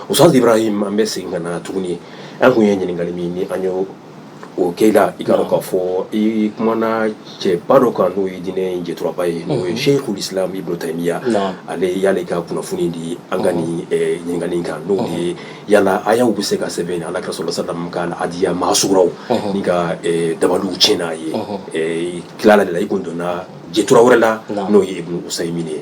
Ustaz Ibrahim an bɛ segin ka na tuguni an tun ye ɲininkali min ni an y'o o kɛ i la i k'a dɔn k'a fɔ i kumana cɛba dɔ kan n'o ye diinɛ jɛturaba ye n'o ye Sheikhul Islam Ibn Taymiya ale y'ale ka kunnafoni di an ka nin ɲininkali kan n'o ye yala ayaw bɛ se ka sɛbɛn ala kira sallallahu alaihi wasallam ka adiya maasuraw nin ka dabaliw tiɲɛ n'a ye tilala de la i tun donna jɛtura wɛrɛ la n'o ye ibnu Usaymin ye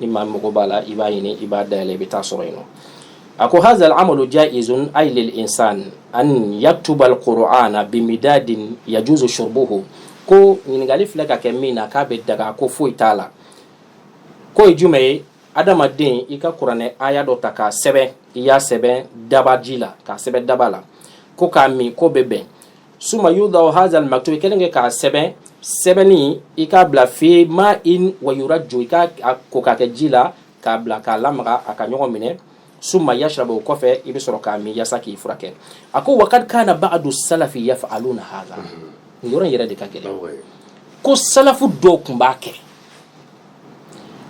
ni maa mago b'a la i b'a ɲini i b'a dayɛlɛ i bɛ taa sɔrɔ yen nɔ a ko hazal amalu ja'izun ay lil insan an yaktubal qur'ana bimidadin yajuzu shurbuhu ko ɲininkali filɛ ka kɛ min na k'a bɛ daga ko foyi t'a la k'o ye jumɛn ye adamaden i ka kuranɛ aya dɔ ta k'a sɛbɛn i y'a sɛbɛn dabaji la k'a sɛbɛn daba la ko k'a min k'o bɛ bɛn summa yuda'u hadha almaktub kelen kɛ k'a sɛbɛn sɛbɛnni i k'a bila fi ma'in wa yurajju i k'a ko k'a kɛ ji la k'a bila k'a lamaga a ka ɲɔgɔn minɛ summa yashraba o kɔfɛ i bɛ sɔrɔ k'a min yasa k'i furakɛ a ko wa qad kana ba'du salafi yaf'aluna hadha nin yɔrɔ in yɛrɛ de ka gɛlɛn ko salafu dɔw tun b'a kɛ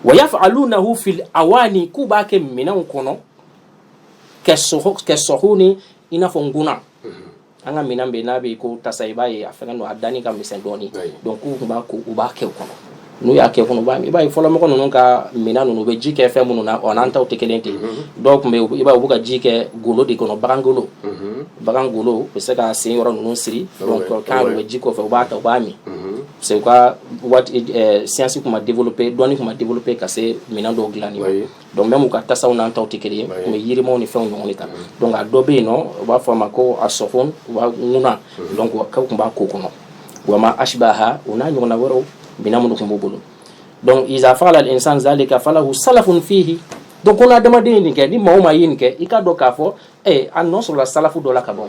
wa yaf'alunahu fil awani k'u b'a kɛ minɛnw kɔnɔ kassuhuni i n'a fɔ nkuna an ka minɛn bɛ n'a bɛ ko tasa i b'a ye a fɛngɛ don a danni ka misɛn dɔɔni donc k'u tun b'a ko u b'a kɛ o kɔnɔ n'u y'a kɛ kɔnɔ i b'a ye fɔlɔmɔgɔ ninnu ka minɛn ninnu u bɛ ji kɛ fɛn minnu na o n'an taw tɛ kelen ten mhm. dɔw tun bɛ i b'a ye u b'u ka ji kɛ golo de kɔnɔ bagan golo mhm. bagan golo u bɛ se k'a sen yɔrɔ ninnu siri ah donc a kan u bɛ ji k'o fɛ u b'a ta u b'a min mhm. parce que u ka waati siyansi tun ma développer dɔnni tun ma développer ka se minɛn dɔw dilanni ma. donc même u ka tasaw n'an taw tɛ kelen ye u bɛ yirimaw ni fɛnw ɲɔgɔn de ta donc a dɔ bɛ yen nɔ u b'a fɔ a ma ko assuhun wa ŋuna donc k'u tun b'a k'o kɔnɔ wa ma ashbaha u n'a ɲɔgɔnna wɛrɛw minɛn minnu tun b'u bolo donc iza fa'ala al-insan zalika falahu salafun fihi donc ko n'adamaden ye nin kɛ ni maa o maa ye nin kɛ i k'a dɔn k'a fɔ ee a nɔ sɔrɔla salafu dɔ la ka bɔ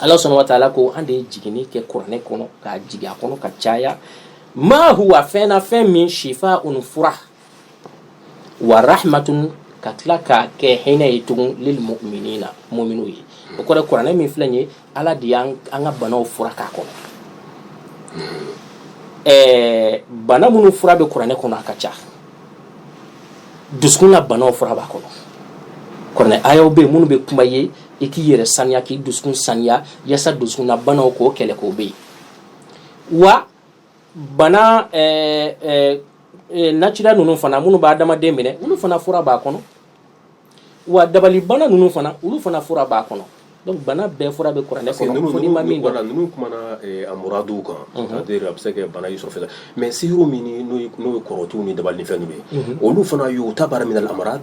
ala subhanahu wa ta'ala ko an de ye jiginni kɛ kuranɛ kɔnɔ ka jigin a kɔnɔ ka caya ma huwa fɛn na fɛn min shifa'un fura wa rahmatun ka tila k'a kɛ hinɛ ye tugun lil mu'minina muminw ye o kɔrɔ kuranɛ min filɛ ye ala de an ka banaw fura k'a kɔnɔ ɛɛ bana minnu fura bɛ kuranɛ kɔnɔ a ka ca dusukun na banaw fura b'a kɔnɔ kuranɛ ayaw bɛ yen minnu bɛ kuma ye i k'i yɛrɛ saniya k'i dusukun saniya yasa dusukun na banaw k'o kɛlɛ k'o bɛ yen wa bana eh, eh, eh, naturel ninnu fana minnu bɛ adamaden minɛ olu fana fura b'a kɔnɔ wa dabalibana ninnu fana olu fana fura b'a kɔnɔ donc bana bɛɛ fura bɛ kuranɛ kɔnɔ fo n'i ma min dɔn ninnu kumana eh, amrad kan mhm. c'est-à-dire a bɛ se ka bana y'i sɔrɔ fɛn mais sihiru min n'o ye kɔrɔtiw ni dabali ni fɛn ninnu ye olu fana y'u ta baara min na amrad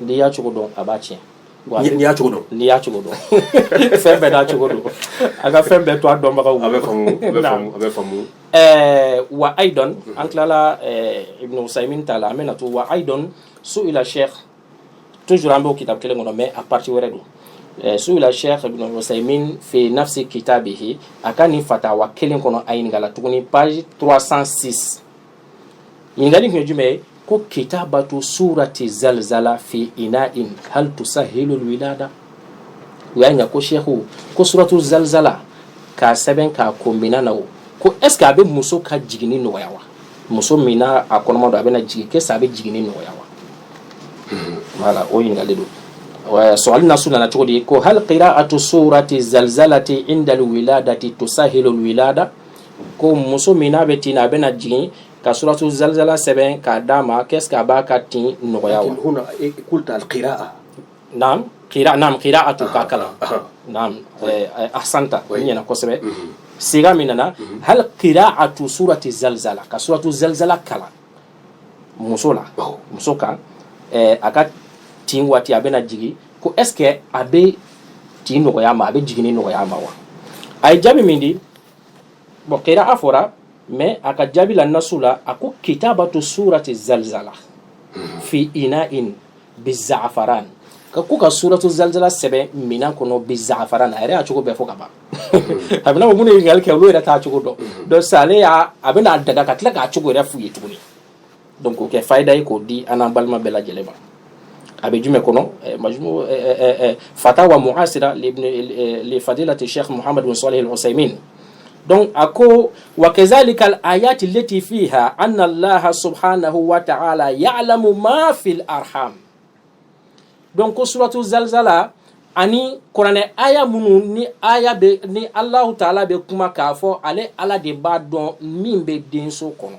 n'i y'a cogo dɔn a b'a tiɲɛ n'i y'a cogo dɔn n'i y'a cogo dɔn fɛn bɛɛ n'a cogo don a ka fɛn bɛɛ to a dɔnbagaw a bɛ faamu ɛɛ wa aydan an tilala ibn usaymin ta la an bɛna to wa aydan su'ila sheikh toujours an b'o kitabu kelen kɔnɔ mais a partie wɛrɛ don su'ila sheikh ibn usaymin fi nafsi kitabihi a ka nin fatawa kelen kɔnɔ a ɲininkala tuguni page 306 Ɲininkali tun ye jumɛn ye ko kitabatou sourati zalzala fi inaain hal tousahilou lwilada u y'a ɲininka ko sheikhu ko suratu zalzala k'a sɛbɛn k'a ko minɛn na o ko est-ce que a bɛ muso ka jigini nɔgɔya wa muso min n'a kɔnɔma don a bɛna jigin est-ce que a bɛ jigini nɔgɔya wa voilà o ɲininkali don su'ali nasu nana cogo di ko hal qira'atu sourati zalzalati inda lwiladati tousahilou lwilada ko muso min n'a bɛ tin na a bɛna jigin ka suratu zalzala sɛbɛn k'a d'a ma est-ce que a b'a ka tin nɔgɔya qira'atu k'a kalan ahsanta o ɲɛna kosɛbɛ sigha min nana hal qira'atu surati zalzala ka suratu zalzala kalan muso la muso kan a ka tin waati a bɛna jigin ko est-ce que a bɛ tin nɔgɔya ma a bɛ jigin nɔgɔya ma wa a ye jaabi min di bon qira'a fɔra mais a ka jaabi la nasu la a ko kitabatu surati zalzala fi inain bizafaran ka ko ka suratu zalzala sɛbɛn minan kɔnɔ bizafaran a yɛrɛ y'a cogo bɛɛ fɔ ka ban a b'i n'a fɔ minnu ye ɲininkali kɛ olu yɛrɛ t'a cogo dɔn donc sa ale y'a a bɛna a daga ka tila k'a cogo yɛrɛ f'u ye tuguni donc k'o kɛ fayida ye k'o di an n'an balima bɛɛ lajɛlen ma a bɛ jumɛn kɔnɔ eh, majmu eh, eh, fatawa mu'asira li fadilati sheikh muhammad bin salih al-usaymin donc a ko wa kazalika al-ayati allati fiha anna allah subhanahu wa ta'ala ya'lamu ma fil arham donc ko suratu zalzala ani kuranɛ aya minnu ni aya bɛ ni allahu taala bɛ kuma k'a fɔ ale ala de b'a dɔn min bɛ denso kɔnɔ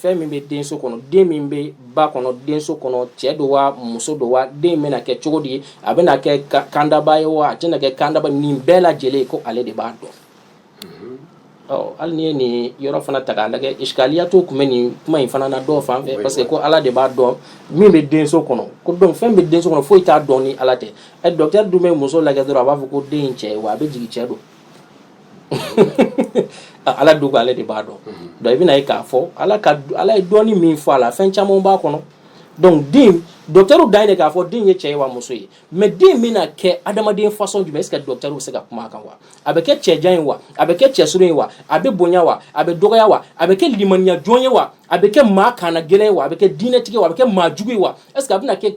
fɛn min bɛ denso kɔnɔ den min bɛ ba kɔnɔ denso kɔnɔ cɛ don wa muso don wa den bɛna kɛ cogo di a bɛna kɛ kandaba ye wa a tɛna kɛ kandaba nin bɛɛ lajɛlen ko ale de b'a dɔn hali n'i ye nin yɔrɔ fana ta k'a lajɛ ishkaliya dɔ tun bɛ nin kuma in fana na dɔw fan fɛ parce que ko ala de b'a dɔn min bɛ denso kɔnɔ ko donc fɛn bɛ denso kɔnɔ foyi t'a dɔn ni ala tɛ ɛ docteur dun bɛ muso lajɛ dɔrɔn a b'a fɔ ko den cɛ wa a bɛ jigin cɛ don ala dun ale de b'a dɔn donc i bɛna ye k'a fɔ ala ka ala ye dɔɔni min fɔ a la fɛn caman b'a kɔnɔ donc den docteur dan ye k'a fɔ den ye cɛ ye wa muso ye mais den bɛna kɛ adamaden façon jumɛn est-ce que docteur bɛ se ka kuma a kan wa a bɛ kɛ cɛjan ye wa a bɛ kɛ cɛsurun ye wa a bɛ bonya wa a bɛ dɔgɔya wa a bɛ kɛ limaniya jɔn ye wa a bɛ kɛ maa kannagɛlɛn ye wa a bɛ kɛ diinɛtigi ye wa a bɛ kɛ maajugu ye wa est-ce que a bɛ kɛ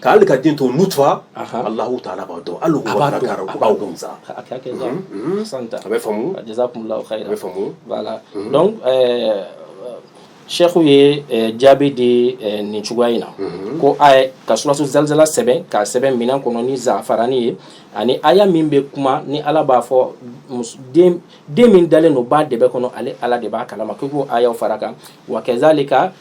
Ka den to taara Cheikhu ye jaabi di nin cogoya in na ko a ka suratu zalzala sɛbɛn k'a sɛbɛn minɛn kɔnɔ ni zafarani ye ani aya min bɛ kuma ni ala b'a fɔ den min dalen don ba dɛbɛ kɔnɔ ale ala de b'a kalama ko k'o aya fara kan wa kazalika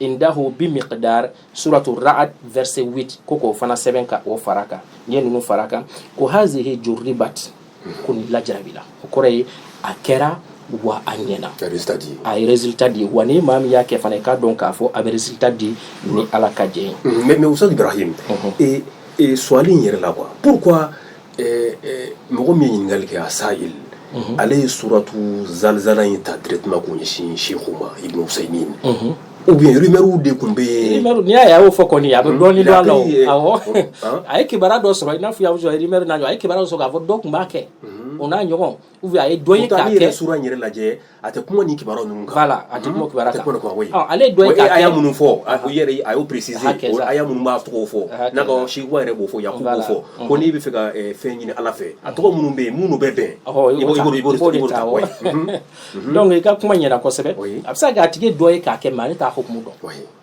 indahu bimiqdar suratu Ra'd verset 8 ko k'o fana sɛbɛn ka o fara kan n'i ye ninnu fara kan ko hazihi jurribat ko nin lajarabila o kɔrɔ ye a kɛra wa a ɲɛna a ye résultat di wa ni maa min y'a kɛ fana i k'a dɔn k'a fɔ a bɛ résultat di ni ala ka jɛ ye mais Oustaz Ibrahim suwali in yɛrɛ la qu Mɔgɔ min ye ɲininkali kɛ a sa'il ale ye suratu zalzala in ta directement k'o ɲɛsin Cheikhu ma Ibn Usaymin ou bien rumeur de tun bɛ yen n'i y'a ye a y'o fɔ kɔni a bɛ dɔɔni dɔn a la a ye kibaru dɔ sɔrɔ i n'a fɔ rumeur na a ye kibaruya sɔrɔ k'a fɔ dɔ tun b'a kɛ o n'a ɲɔgɔn ou bien a ye dɔ ye k'a kɛ sura in yɛrɛ lajɛ a tɛ kuma nin kibaruya ninnu kan voilà a tɛ kuma kibaruya kan a tɛ kuma kibaruya kan ale ye dɔ ye k'a kɛ aya minnu fɔ a yɛrɛ a y'o préciser o aya minnu b'a tɔgɔw fɔ nka Cheikhuba yɛrɛ b'o fɔ yakubu b'o fɔ ko n'i bɛ fɛ ka fɛn ɲini ala fɛ a tɔgɔ minnu bɛ yen minnu bɛ bɛn i b'o i b'o de ta wa donc i ka kuma ɲɛna kosɛbɛ a bɛ se ka kɛ a tigi ye dɔ ye k'a kɛ mais ale t'a hukumu dɔn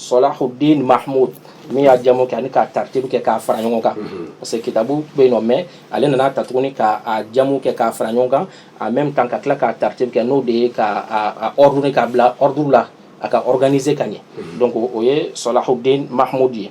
Solahuddin Mahmud min y'a jamu kɛ ani k'a taritibu kɛ k'a fara ɲɔgɔn kan parce que kitabu bɛ yen non mais ale nana a ta tuguni k'a jamu kɛ k'a fara ɲɔgɔn kan en même temps ka tila k'a taritibu kɛ n'o de ye k'a ordonner k'a bila ordre la a ka organiser ka ɲɛ donc o ye Solahuddin Mahmud ye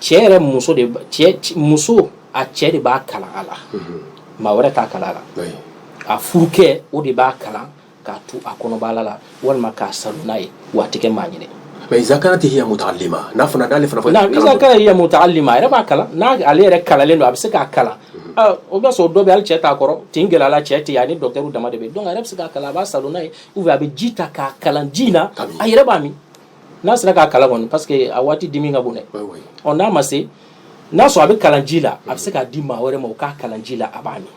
cɛ yɛrɛ muso de muso a cɛ de b'a kalan a la maa wɛrɛ t'a kalan a la a furukɛ o de b'a kalan k'a tu a kɔnɔbara la walima k'a salo n'a ye waati kɛ maa ɲini mais iza kanat hiya mutaallima n'a fana dalen fana iza kanat hiya mutaallima a yɛrɛ b'a kalan n'a ale yɛrɛ kalannen don a bɛ se k'a kalan o b'a sɔrɔ dɔ bɛ ale cɛ t'a kɔrɔ tin gɛlɛya la cɛ tɛ a ni docteur dama de bɛ donc a yɛrɛ bɛ se k'a kalan a b'a salo n'a ye ou a bɛ ji ta k'a kalan ji in na a yɛrɛ b'a min n'a sera k'a kalan kɔni parce que a waati dimi ka bon dɛ ɔ n'a ma se n'a sɔrɔ a bɛ kalan ji la a bɛ se k'a di maa wɛrɛ ma o k'a kalan ji la a b'a min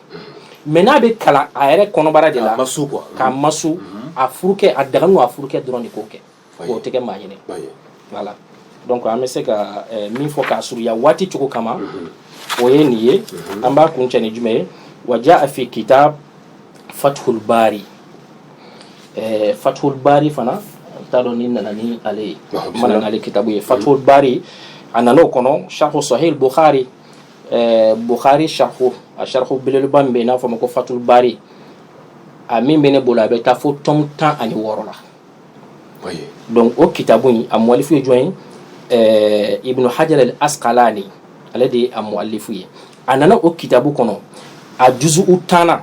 mais n'a bɛ kalan a yɛrɛ kɔnɔbara de la k'a masu mhm. a furukɛ a daganu a furukɛ dɔrɔn de k'o kɛ k'o tɛ kɛ maa ɲinɛ voilà donc an bɛ se ka eh, min fɔ k'a surunya waati cogo kama mhm. o ye nin ye mhm. an b'a kuncɛ ni jumɛn ye wa jaa fi kitab fathul bari fathul bari fana n t'a dɔn ni n nana ni ale ye n ma na ale kitabu ye fathul bari a nana o kɔnɔ sharhu sahih bukhari bukhari sharhu a sharhu belebeleba min bɛ n'a fɔ ma ko fathul bari a min bɛ ne bolo a bɛ taa fo tome tan ani wɔɔrɔ la donc o kitabu in a mualifu ye jɔn ye ibn hajar al asqalani ale de ye a mualifu ye a nana o kitabu kɔnɔ a juzu'u tannan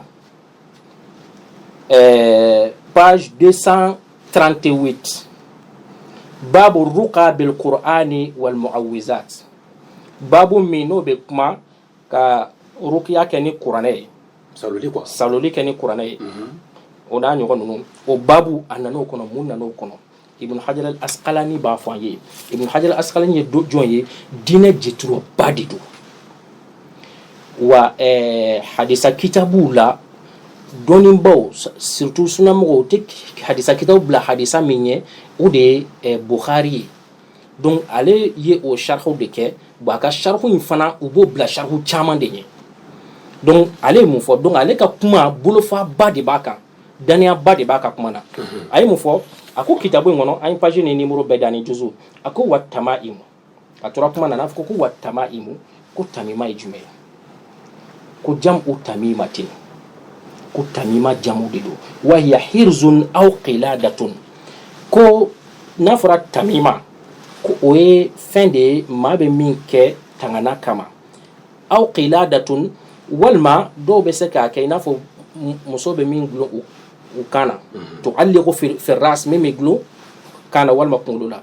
page deux cent trente-huit babu ruqa bil qur'ani wal muawwizat babu min n'o bɛ kuma ka rukiya kɛ ni kuranɛ ye saloli quoi saloli kɛ ni kuranɛ ye o n'a ɲɔgɔn ninnu o babu a nan'o kɔnɔ mun nan'o kɔnɔ ibn hajar al asqalani b'a fɔ an ye ibn hajar al asqalani ye do jɔn ye diinɛ jɛturaba de don wa eh, hadisa kitabuw la dɔnnibaaw surtout sunamɔgɔw u tɛ hadisa kitabu bila hadisa min ɲɛ o de ye eh, bukhari ye Donc ale ye o sharhu de kɛbaa a ka sharhu in fana u b'o bila sharhu caman de ɲɛ donc ale ye mun fɔ donc ale ka kuma bolofaba de b'a kan dannayaba de b'a ka kuma na a ye mun fɔ a ko kitabu in kɔnɔ an ye page ni numéro bɛɛ di ani juzu a ko wa tamaimu a tora kuma na n'a fɔ ko wa tamaimu ko tamima ye jumɛn ye ko jam'u tamimatin ko tamima jamu de don wa hiya hirzun aw qiladatun ko n'a fɔra tamima ko o ye fɛn de ye maa bɛ min kɛ tangana kama aw qiladatun walima dɔw bɛ se k'a kɛ i n'a fɔ muso bɛ min dulon u kan na tuallaqu fi ras min bɛ dulon kan na walima kunkolo la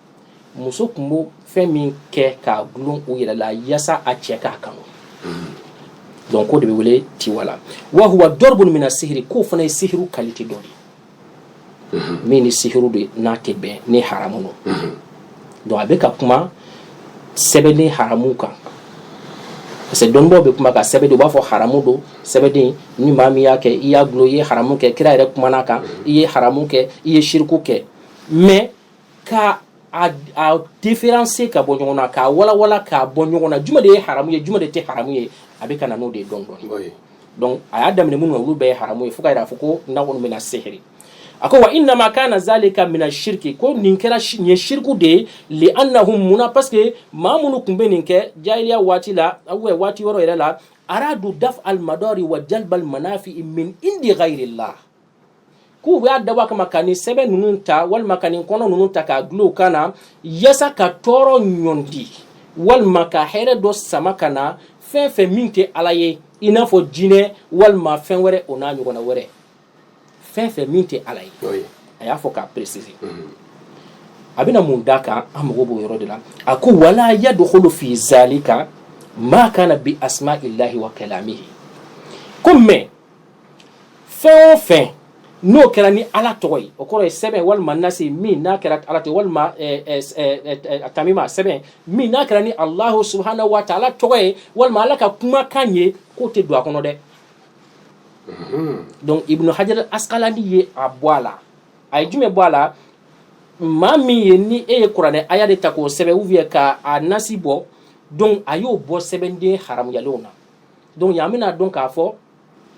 muso tun bɛ fɛn min kɛ k'a gulon u yɛrɛ la yasa a cɛ k'a kanu donc k'o de bɛ wele tiwala wa huwa darbun mina sihiri k'o fana ye sihiri qualité dɔ de ye min ni sihiriw de n'a tɛ bɛn ni haramu don donc a bɛ ka kuma sɛbɛnden haramu kan parce que dɔnnibaaw bɛ kuma ka sɛbɛnden u b'a fɔ haramu don sɛbɛden ni maa min y'a kɛ i y'a gulon i ye haramu kɛ kira yɛrɛ kumana a kan i ye haramu kɛ i ye shiriku kɛ mais k'a différencier ka bɔ ɲɔgɔn na k'a walawala k'a bɔ ɲɔgɔn na juma de ye haramu ye juma de tɛ haramu ye a bɛ ka na n'o de ye dɔɔni dɔɔni donc a y'a daminɛ minnu na olu bɛɛ ye haramu ye fo k'a fɔ ko n'a bɛna na sihiri a ko wa innama kana zalika mina shirki ko nin kɛra ye siriku de ye li annahum mun na parce que maa minnu tun bɛ nin kɛ jahiliya waati la waati wɛrɛ yɛrɛ la aradu daf al madari wa jalbal manafi min indi ghayrillah k'u b'a dabɔ a kama ka nin sɛbɛn ninnu ta walima ka nin kɔnɔ ninnu ta k'a gulon u kan na yasa ka tɔɔrɔ ɲɔnti walima ka hɛrɛ dɔ sama ka na fɛn fɛn min tɛ Ala ye i n'a fɔ jinɛ walima fɛn wɛrɛ o n'a ɲɔgɔnna wɛrɛ fɛn fɛn min tɛ Ala ye a y'a fɔ k'a préciser mhm. a bɛna mun d'a kan an mago b'o yɔrɔ de la a ko wala yadkhulu fi zalika ma kana bi asma'illahi wa kalamihi ko mais fɛn o fɛn n'o kɛra ni ala tɔgɔ ye o kɔrɔ ye sɛbɛn walima nasi min n'a kɛra ala tɔgɔ walima tamima sɛbɛn min n'a kɛra ni Allahu subhanahu wa ta'ala tɔgɔ ye walima ala ka kumakan ye k'o tɛ don a kɔnɔ dɛ donc Ibnu Hajar Asqalani ye a bɔ a la a ye jumɛn bɔ a la maa min ye ni e ye kuranɛ aya de ta k'o sɛbɛn ou bien k'a nasi bɔ donc a y'o bɔ sɛbɛnden haramuyalenw na Donc yan an bɛna dɔn k'a fɔ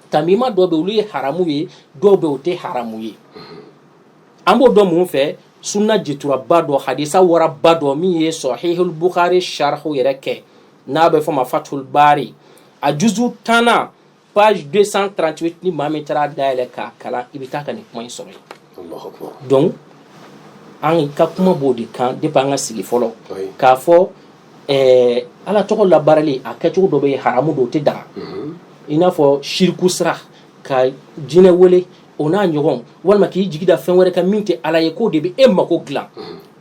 tamima dɔw bɛ olu ye haramu ye dɔw bɛ o tɛ haramu ye an b'o dɔn mun fɛ sunna jituraba dɔ hadisa waraba dɔ min ye Sahihul Bukhari sharhu yɛrɛ kɛ n'a bɛ fɔ ma Fathul Bari a juzu tannan page deux cent trente-huit ni maa min taara dayɛlɛ k'a kalan i bɛ taa ka nin kuma in sɔrɔ donc an ka kuma b'o de kan depuis an ka sigi fɔlɔ k'a fɔ ɛɛ Ala tɔgɔ labaarali a kɛcogo dɔ bɛ yen haramu don o tɛ daga, unhun, i n'a fɔ siriku sira ka jinɛ wele o n'a ɲɔgɔnw walima k'i jigi da fɛn wɛrɛ kan min tɛ Ala ye k'o de bɛ e mako dilan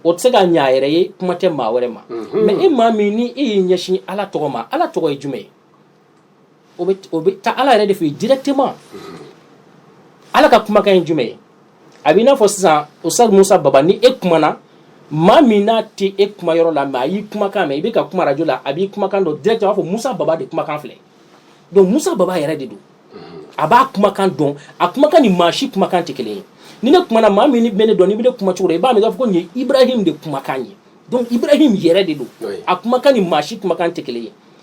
o tɛ se ka ɲɛ a yɛrɛ ye kuma tɛ maa wɛrɛ ma mais e maa min ni e y'i ɲɛsin Ala tɔgɔ ma Ala tɔgɔ ye jumɛn ye o bɛ o bɛ taa Ala yɛrɛ de fɛ yen directement Ala ka kumakan ye jumɛn ye a bɛ i n'a fɔ sisan Ustad Musa Baba ni e kumana maa min n'a tɛ e kuma yɔrɔ la mais a y'i kumakan mɛn i bɛ ka kuma radio la a b'i kumakan dɔn directement a b'a fɔ Musa Baba de kumakan filɛ donc Musa Baba yɛrɛ de don a b'a kumakan dɔn a kumakan ni maa si kumakan tɛ kelen ye ni ne kumana maa min bɛ ne dɔn n'i bɛ ne kuma cogo dɔn i b'a mɛn i b'a fɔ ko nin ye Ibrahim de kumakan ye donc Ibrahim yɛrɛ de don a kumakan ni maa si kumakan tɛ kelen ye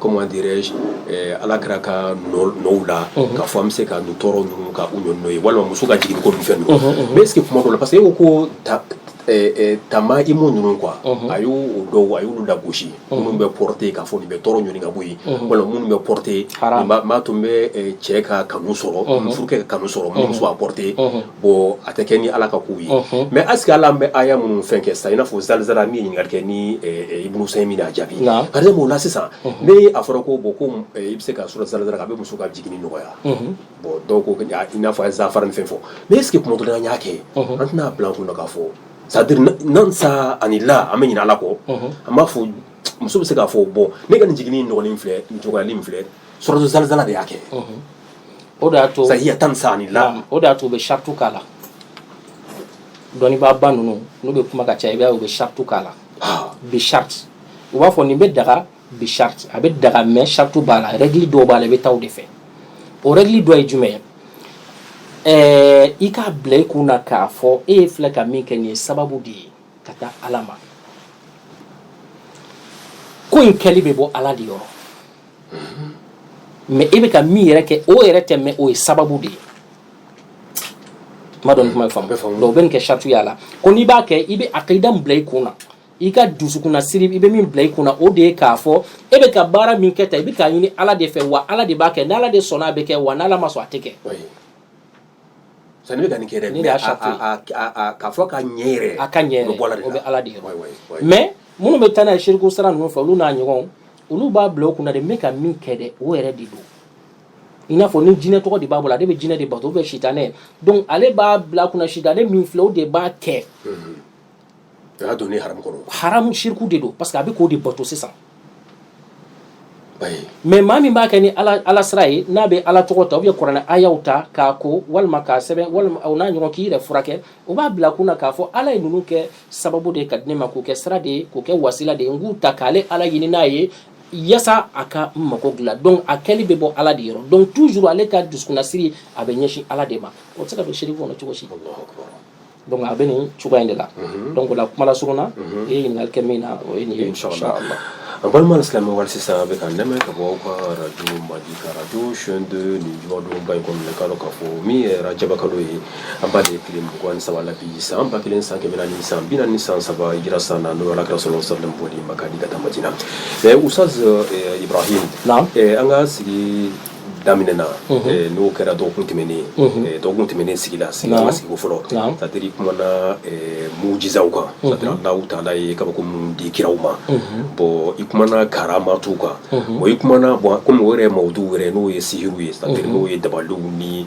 comment dirais-je ala kira ka nɔw la k'a fɔ an bɛ se ka nin tɔɔrɔ ninnu ka u ɲɔni n'o ye walima muso ka jigin ko fɛn ninnu mais est ce que tuma dɔ la parce que e ko tamayimu ninnu quoi a y'o dɔw a y'olu lagosi minnu bɛ porter k'a fɔ nin bɛ tɔɔrɔ ɲɔni ka bɔ yen walima minnu bɛ porter tun bɛ cɛ ka kanu sɔrɔ furukɛ ka kanu sɔrɔ muso a porter bon a tɛ kɛ ni Ala ka kow ye, unhun, mais est ce que hali an bɛ aya minnu fɛn kɛ sisan i n'a fɔ zalzala min ye ɲininkali kɛ ni Ibunu Usɛmini y'a jaabi, naamu, par exemple o la sisan ni a fɔra ko bon ko i bɛ se ka surat zalzala kɛ a bɛ muso ka jiginni nɔgɔya, unhun, bon dɔw ko i n'a fɔ an ye zafarani fɛn fɔ mais est ce que tuma dɔ la an y'a kɛ an tɛna a bila an kun na k'a fɔ c'est à dire dans ce sens là an bɛ ɲinɛ Ala kɔ, unhun, an b'a fɔ muso bɛ se k'a fɔ bon ne ka nin jiginni in nɔgɔlen filɛ nin cogoyalen in filɛ surat zalzala de y'a kɛ, unhun o de y'a to ça y est dans ce sens là o de y'a to u bɛ sartu k'a la dɔnnibaa ba ninnu n'u bɛ kuma ka ca i b'a ye u bɛ sartu k'a la ah. bi sarti u b'a fɔ nin bɛ daga bi sarti a bɛ daga mais sartu b'a la règle dɔw b'a la i bɛ taa o de fɛ o règle dɔ ye jumɛn ye ɛɛ i k'a bila i kun na k'a fɔ e ye filɛ ka min kɛ nin ye sababu de ye ka taa ala ma ko in kɛli bɛ bɔ ala de yɔrɔ mais e bɛ ka min yɛrɛ kɛ o yɛrɛ tɛ mais o ye sababu de ye ma dɔn kuma faamu donc u bɛ nin kɛ sartuya la ko n'i b'a kɛ i bɛ aqida min bila i kun na i ka dusukunna siri i bɛ min bila i kun na o de ye k'a fɔ e bɛ ka baara min kɛ ta i bɛ k'a ɲini ala de fɛ wa ala de b'a kɛ n'ala de sɔnna a bɛ kɛ wa n'ala ma sɔn a tɛ kɛ san i bɛ ka nin kɛ dɛ Nin de y'a sartu ye. k'a fɔ ka ɲɛ yɛrɛ a ka ɲɛ o bɛ bɔ ala de o bɛ yɔrɔ. ala de yɔrɔ Wayi, wayi, wayi. mais minnu bɛ taa n'a ye siriku sira ninnu fɛ olu n'a ɲɔgɔnw olu b'a bila u kunna de n bɛ ka min kɛ dɛ o yɛrɛ de don i n'a fɔ ni jinɛ tɔgɔ de b'a bolo ale bɛ jinɛ de bato ou bien sitanɛ donc ale b'a bila a kunna sitanɛ min filɛ o de b'a kɛ o y'a donni haramu kɔrɔ haramu siriku de don parce que a bɛ k'o de bato sisan wayi mais maa min b'a kɛ ni ala sira ye n'a bɛ ala tɔgɔ ta ou bien kuranɛ ayaw ta k'a ko walima k'a sɛbɛn walima o n'a ɲɔgɔn k'i yɛrɛ furakɛ o b'a bila kun na k'a fɔ ala ye ninnu kɛ sababu de ye ka di ne ma k'o kɛ sira de ye k'o kɛ wasila de ye n k'u ta k'ale ala ɲini n'a ye yasa a ka mago dilan donc a kɛli bɛ bɔ ala de yɔrɔ donc toujours ale ka dusukunnasiri a bɛ ɲɛsin ala de ma o tɛ se ka don siriki kɔnɔ cogo si donc a bɛ nin cogoya in de la mhm. donc o la kuma lasurunya na mhm. i ye ɲininkali kɛ min na o ye nin ye inshallah an balima alisilamɛw hali sisan a bɛ k'an lamɛn ka bɔ aw ka radio mali ka radio chaîne deux nin jumadonba in kɔnɔ k'a dɔn k'a fɔ min ye rajaba kalo ye an b'a de tile mugan ni saba la bi san ba kelen san kɛmɛ naani san bi naani ni san saba hijira san na n'o ye alakira sallallahu alayhi wa sallam bɔli maka di ka taa madina ɛ ustaz ibrahim an ka sigi daminɛna n'o kɛra dɔgɔkun tɛmɛnen dɔgɔkun tɛmɛnen sigi la sigi an ka sigi fɔlɔ c'est-à-dire kumana mujizaw kan c'est-à-dire allahu taala ye kabako min di kiraw ma bon i kumana karamatu kan bon i kumana bon comme o yɛrɛ mawudu wɛrɛ n'o ye sihiru ye c'est-à-dire n'o ye dabaliw ni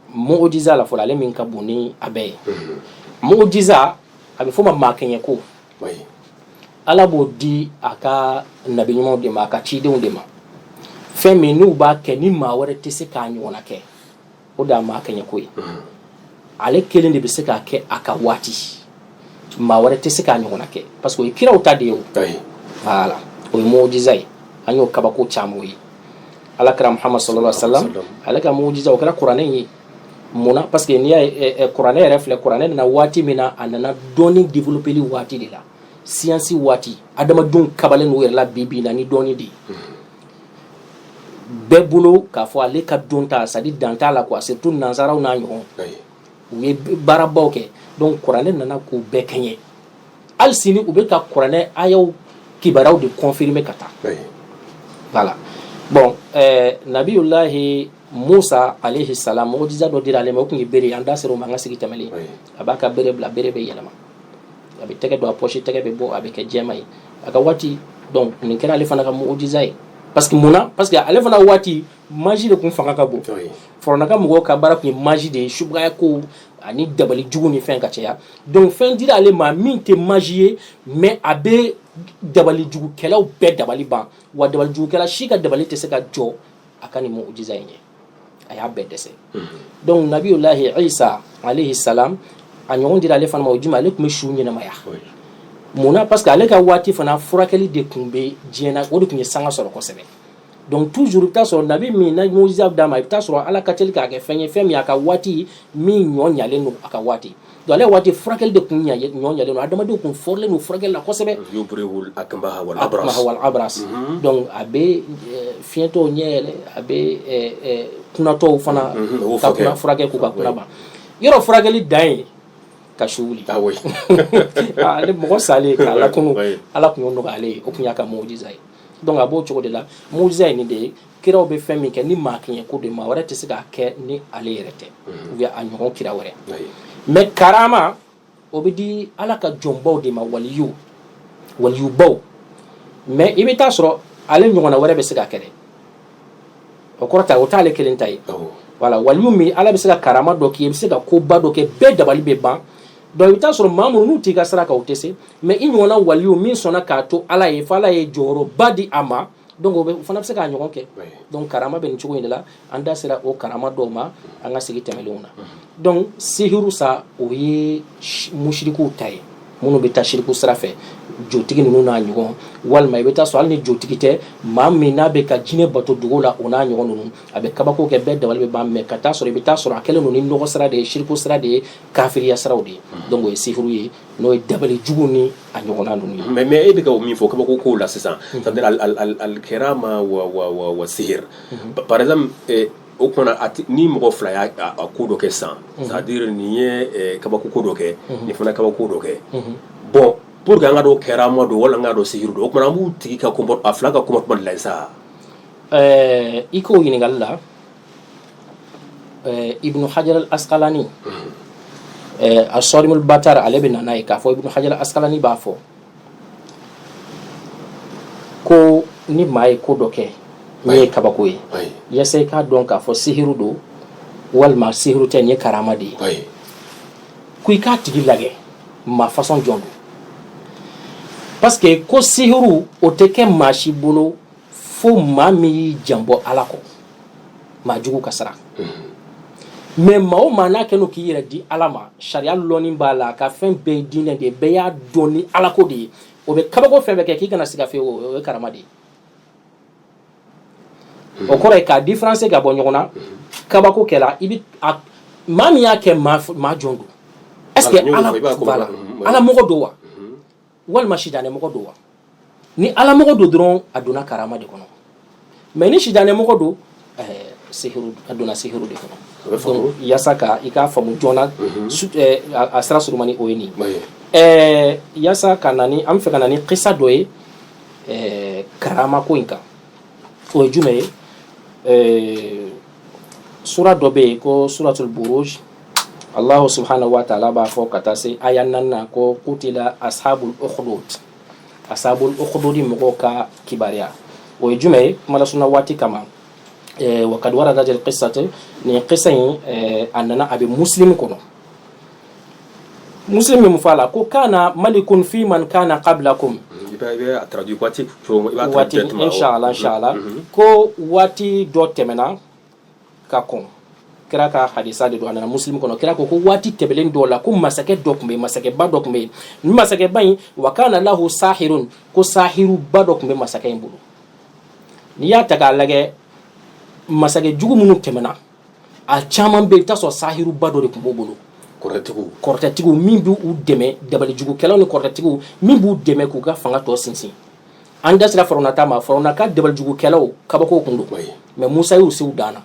mujiza la fɔlɔ ale min ka bon ni a bɛɛ ye mujiza a bɛ fɔ ma maa kɛɲɛ ko ala b'o di a ka nabiɲumanw de ma a ka cidenw de ma fɛn min n'u b'a kɛ ni maa wɛrɛ tɛ se k'a ɲɔgɔnna kɛ o de y'a maa kɛɲɛ ko ye ale kelen de bɛ se k'a kɛ a ka waati maa wɛrɛ tɛ se k'a ɲɔgɔnna kɛ parce que o ye kiraw ta de ye voilà o ye mujiza ye an y'o kabako caman ye alakira muhammad sallallahu alayhi wa sallam ale ka mujiza o kɛra kuranɛ ye mun na parce que n'i ye kuranɛ yɛrɛ filɛ kuranɛ nana waati min na a nana dɔnni développeli waati de la siyansi waati adamadenw kabalen n'u yɛrɛ la bi bi in na ni dɔnni de ye bɛɛ bolo k'a fɔ ale ka dɔnta c'est-à-dire dan t'a la quoi surtout nansaraw n'a ɲɔgɔn u ye baarabaw kɛ donc kuranɛ nana k'u bɛɛ kɛɲɛ hali sini u bɛ ka kuranɛ ayaw kibaruyaw de confirmer ka taa voilà bon eh, nabiyulahi musa alayhi salam mujiza dɔ dira ale ma o tun ye bere ye an da sera o ma an ka sigi tɛmɛnen a b'a ka bere bila bere bɛ yɛlɛma a bɛ tɛgɛ don a pɔsi tɛgɛ bɛ bɔ a bɛ kɛ jɛma ye a ka waati nin kɛra ale fana ka mujiza ye parce que mun na parce que ale fana waati magie de tun fanga ka bon firawuna ka mɔgɔw ka baara tun ye magie de ye subagaya ko ani dabali jugu ni fɛn ka caya donc fɛn dira ale ma min tɛ magie ye mais a bɛ dabali jugukɛlaw bɛɛ dabali ban wa dabali jugukɛla si ka dabali tɛ se ka jɔ a ka nin mujiza in ye a y'a bɛɛ dɛsɛ mhm. donc nabiyulahi isa alayhi salam a ɲɔgɔn dira ale fana ma o jumɛn ale tun bɛ su ɲɛnamaya mun na parce que ale ka waati fana furakɛli de tun bɛ diɲɛ na o de tun ye sanga sɔrɔ kosɛbɛ donc toujours i bɛ taa sɔrɔ nabi min na mujiza d'a ma i bɛ taa sɔrɔ ala ka teli k'a kɛ fɛn ye fɛn min a ka waati min ɲɔ ɲalen don a ka waati donc ale waati furakɛli de tun ɲɔ ɲalen don adamadenw tun fɔrilen don furakɛli la kosɛbɛ akmaha wal abras donc a bɛ fiɲɛtɔw ɲɛ yɛlɛ a bɛ kunatɔw fana ka kuna furakɛ k'u ka kuna ban yɔrɔ furakɛli dan ye ka su wuli mɔgɔ salen k'a lakunu ala tun y'o nɔgɔya ale ye o tun y'a ka mujiza ye donc a b'o cogo de la mujiza ye nin de ye kiraw bɛ fɛn min kɛ ni maa kɛɲɛ ko de maa wɛrɛ tɛ se k'a kɛ ni ale yɛrɛ tɛ ou bien a ɲɔgɔn kira wɛrɛ mais karama o bɛ di ala ka jɔnbaw de ma waliw walibaw mais i bɛ taa sɔrɔ ale ɲɔgɔnna wɛrɛ bɛ se k'a kɛ dɛ o kɔrɔ ta o t'ale kelen ta ye voilà wali min ala bɛ se ka karama dɔ k'i ye i bɛ se ka koba dɔ kɛ bɛɛ dabali bɛ ban Donc i bɛ taa sɔrɔ maa minnu n'u t'i ka sira kan u tɛ se mais i ɲɔgɔnna waliyu min sɔnna k'a to ala ye ala ye jɔyɔrɔba di a ma donc o fana bɛ se k'a ɲɔgɔn kɛ donc karama bɛ nin cogo in de la an da sera o karama dɔw ma an ka sigi tɛmɛlenw na donc sihiru sa o ye musirikuw ta ye minnu bɛ taa siriku sira fɛ jotigi ninnu n'a ɲɔgɔn walima i bɛ taa sɔrɔ hali ni jotigi tɛ maa min n'a bɛ ka jinɛ bato dugu la o n'a ɲɔgɔn ninnu a bɛ kabako kɛ bɛɛ dabali bɛ ban mais ka taa sɔrɔ i bɛ taa sɔrɔ a kɛlen don ni nɔgɔ sira de ye siriku sira de ye kafiriya siraw de ye donc o ye sihiru ye n'o ye dabali jugu ni a ɲɔgɔn ninnu ye mais e bɛ ka min fɔ kabako kow la sisan c'est-à-dire al karama wa sihir par exemple o tuma na ni mɔgɔ fila ye ko dɔ kɛ sisan c'est-à-dire nin ye kabako ko dɔ kɛ nin fana kabako ko dɔ kɛ bon pour que an k'a dɔn karama don wala an k'a dɔn sihiru don o tuma na an b'u tigi ka a fila ka comportement de la sa i k'o ɲininkali la ibnu hajar al asqalani eh, asarimul batar ale bɛ na n'a ye k'a fɔ ibnu hajar al asqalani b'a fɔ ko ni maa ye ko dɔ kɛ min ye kabako ye ayi yasa i k'a dɔn k'a fɔ sihiru don walima sihiru tɛ nin ye karama de ye ayi ko i k'a tigi lagɛ maa façon jɔn don parce que ko sihiru o tɛ kɛ maa si bolo fo maa min y'i janbɔ ala kɔ maa jugu ka sira mais maa o maa n'a kɛn'o k'i yɛrɛ di ala ma sariya lɔnni b'a la ka fɛn bɛɛ ye diinɛ de ye bɛɛ y'a dɔn ni ala ko de ye o bɛ kabako fɛn bɛɛ kɛ k'i kana siga fewu o ye karama de ye o kɔrɔ ye k'a différence ka bɔ ɲɔgɔn na kabako kɛla i bɛ maa min y'a kɛ maa jɔn don est ce que ala mɔgɔ don wa walima sitanɛmɔgɔ don wa ni alamɔgɔ don dɔrɔn a donna karama de kɔnɔ mais ni sitanɛmɔgɔ don a donna sihiru de kɔnɔ yasa ka i k'a faamu joona a sira surumani o ye nin yasa ka na ni an b'a fɛ ka na ni kisa dɔ ye karama ko in kan o ye jumɛn ye sura dɔ bɛ yen ko suratul buruj Allahu subhanahu wa ta'ala b'a fɔ ka taa se aya naani na ko kutila ashabul ukhdud ashabul ukhdud mɔgɔw ka kibaruya o ye jumɛn ye kuma lasurunya waati kama wa kad waradatil kissat nin kisa in a nana a bɛ muslim kɔnɔ muslim min fɔ a la ko kana malikun fi man kana kablakum waati inshallah ko waati dɔ tɛmɛna ka kɔn kira ka hadisa de don a nana muslim kɔnɔ kira ko ko waati tɛmɛlen dɔ la ko masakɛ dɔ tun bɛ yen masakɛba dɔ tun bɛ yen nin masakɛba in wa kana lahu sahirun ko sahiruba dɔ tun bɛ masakɛ in bolo n'i y'a ta k'a lajɛ masakɛ jugu minnu tɛmɛna a caman bɛ yen i bɛ t'a sɔrɔ sahiruba dɔ de tun b'u bolo kɔrɔtɛtigiw kɔrɔtɛtigiw min b'u dɛmɛ dabalijugukɛlaw ni kɔrɔtɛtigiw min b'u dɛmɛ k'u ka fanga tɔ sinsin an da sera farawuna ta ma farawuna ka dabalijugukɛlaw kabako tun don mais musa y'u se u dan na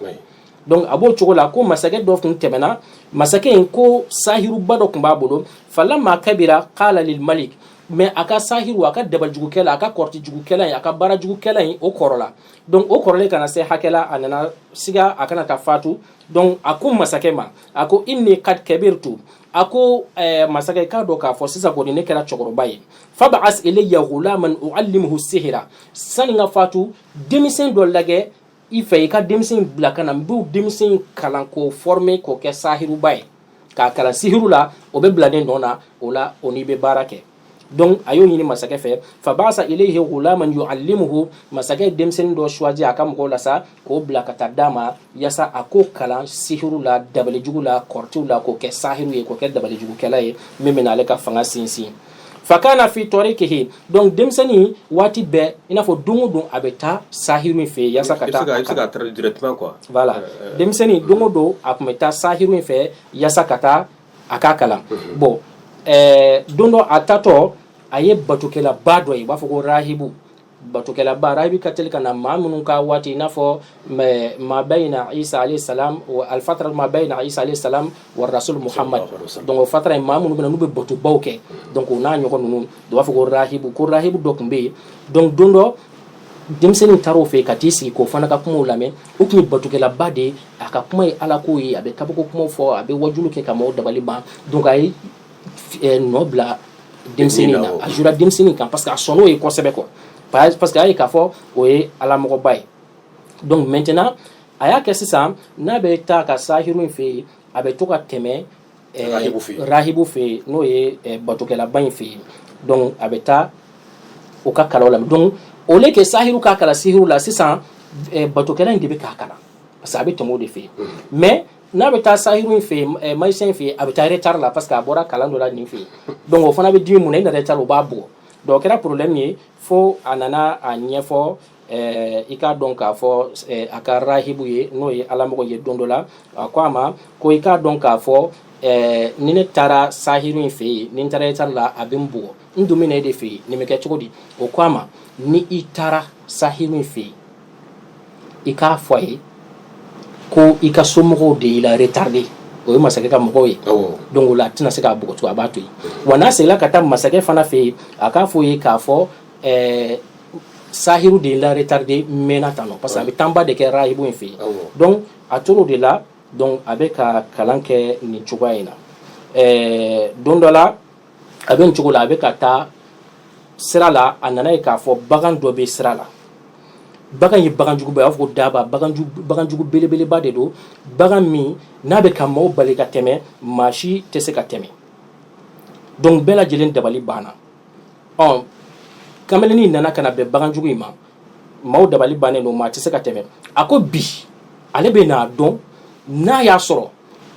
donc a b'o cogo la ko masakɛ dɔ tun tɛmɛna masakɛ in ko sahiruba dɔ tun b'a bolo falamma kabira kala lil malik mais a ka sahiru a ka dabalijugukɛla a ka kɔrɔtijugukɛla in a ka baarajugukɛla in o kɔrɔla donc o kɔrɔlen ka na se hakɛ la a nana siga a kana taa fatu donc a ko masakɛ ma a ko inni kad kabirtu a ko masakɛ k'a dɔn k'a fɔ sisan kɔni ne kɛra cɛkɔrɔba ye fab'as ilayya ghulaman u'allimuhu sihra sani ka fatu denmisɛn dɔ lajɛ i fɛ i ka denmisɛn bila ka na n b'o denmisɛn kalan k'o former k'o kɛ sahiruba ye k'a kalan sihiru la o bɛ bila ne nɔ na o la o n'i bɛ baara kɛ donc a y'o ɲini masakɛ fɛ faba'asa ilayhi ghulaman yu'allimuhu masakɛ ye denmisɛnnin dɔ choisi a ka mɔgɔw la sa k'o bila ka taa d'a ma yasa a k'o kalan sihiru la dabalijugu la kɔrɔtiw la k'o kɛ sahiru ye k'o kɛ dabalijugukɛla ye min bɛna ale ka fanga sinsin fakana fi tarikihi donc denmisɛnnin waati bɛɛ i n'a fɔ don o don a bɛ taa sahiru in fɛ yaasa ka taa i bɛ se ka traduire directement quoi voilà euh, euh, denmisɛnnin euh. don o don a tun bɛ taa sahiru in fɛ yaasa ka taa a k'a kalan mhm. bon ɛɛ don dɔ a taatɔ a ye batokɛlaba dɔ ye u b'a fɔ ko rahibu batokɛlaba rahibu ka teli ka na maa minnu ka waati i n'a fɔ ma bayna isa alayhi salam al fatara ma bayna isa alayhi salam wa rasul muhamadu donc fatara in maa minnu bɛ n'u bɛ batobaw kɛ donc o n'a ɲɔgɔn ninnu u b'a fɔ ko rahibu ko rahibu dɔ tun bɛ yen donc don dɔ denmisɛnnin taara o fɛ yen ka t'i sigi k'o fana ka kumaw lamɛn o tun ye batokɛlaba de ye a ka kuma ye ala ko ye a bɛ kabako kumaw fɔ a bɛ wajulu kɛ ka maaw dabali ban donc a ye nɔ bila denmisɛnnin na a jura denmisɛnnin kan parce que a sɔnn'o ye kosɛbɛ quoi parce que a ye k'a fɔ o ye alamɔgɔba ye donc maintenant a y'a kɛ sisan n'a bɛ taa ka sahiru in fɛ yen a bɛ to ka tɛmɛ rahibu fɛ yen n'o ye batokɛlaba in fɛ yen donc a bɛ taa o ka kalan la donc au lieu que sahiru k'a kalan sihiru la sisan batokɛla in de bɛ k'a kalan parce que a bɛ tɛmɛ o de fɛ yen mais n'a bɛ taa sahiru in fɛ yen eh, magicien in fɛ yen a bɛ taa retard la parce que a bɔra kalan dɔ la nin fɛ yen donc o fana bɛ dimi mun na i na retard o b'a bugɔ donc o kɛra problème ye fo a nana a ɲɛfɔ eh, i k'a dɔn k'a fɔ eh, a ka rahibu ye n'o ye alamɔgɔ ye don dɔ la a ko a ma ko i k'a dɔn k'a fɔ eh, ni ne taara sahiru in fɛ yen ni n taara retard la a bɛ n bugɔ n dun bɛ na e de fɛ yen nin bɛ kɛ cogo di o ko a ma ni i taara sahiru in fɛ yen i k'a fɔ a ye ko i ka somɔgɔw de y'i la retardé o ye masakɛ ka mɔgɔw ye donc o la a tɛna se k'a bugɔ tugun a b'a to yen wa n'a seginna ka taa masakɛ fana fɛ yen a k'a fɔ ye k'a fɔ sahiru de y'i la retardé maintenant parce que a bɛ temps ba de kɛ rahibu in fɛ yen donc a tor'o de la donc a bɛ ka kalan kɛ nin cogoya in na don dɔ la a bɛ nin cogo la a bɛ ka taa sira la a nan'a ye k'a fɔ bagan dɔ bɛ sira la bagan ye baganjuguba a b'a fɔ ko daba baganjugu belebeleba de don bagan min n'a bɛ ka maaw bali ka tɛmɛ maa si tɛ se ka tɛmɛ donc bɛɛ lajɛlen dabali banna ɔ kamalennin nana ka na bɛn baganjugu in ma maaw dabali bannen don maa tɛ se ka tɛmɛ a ko bi ale bɛ n'a dɔn n'a y'a sɔrɔ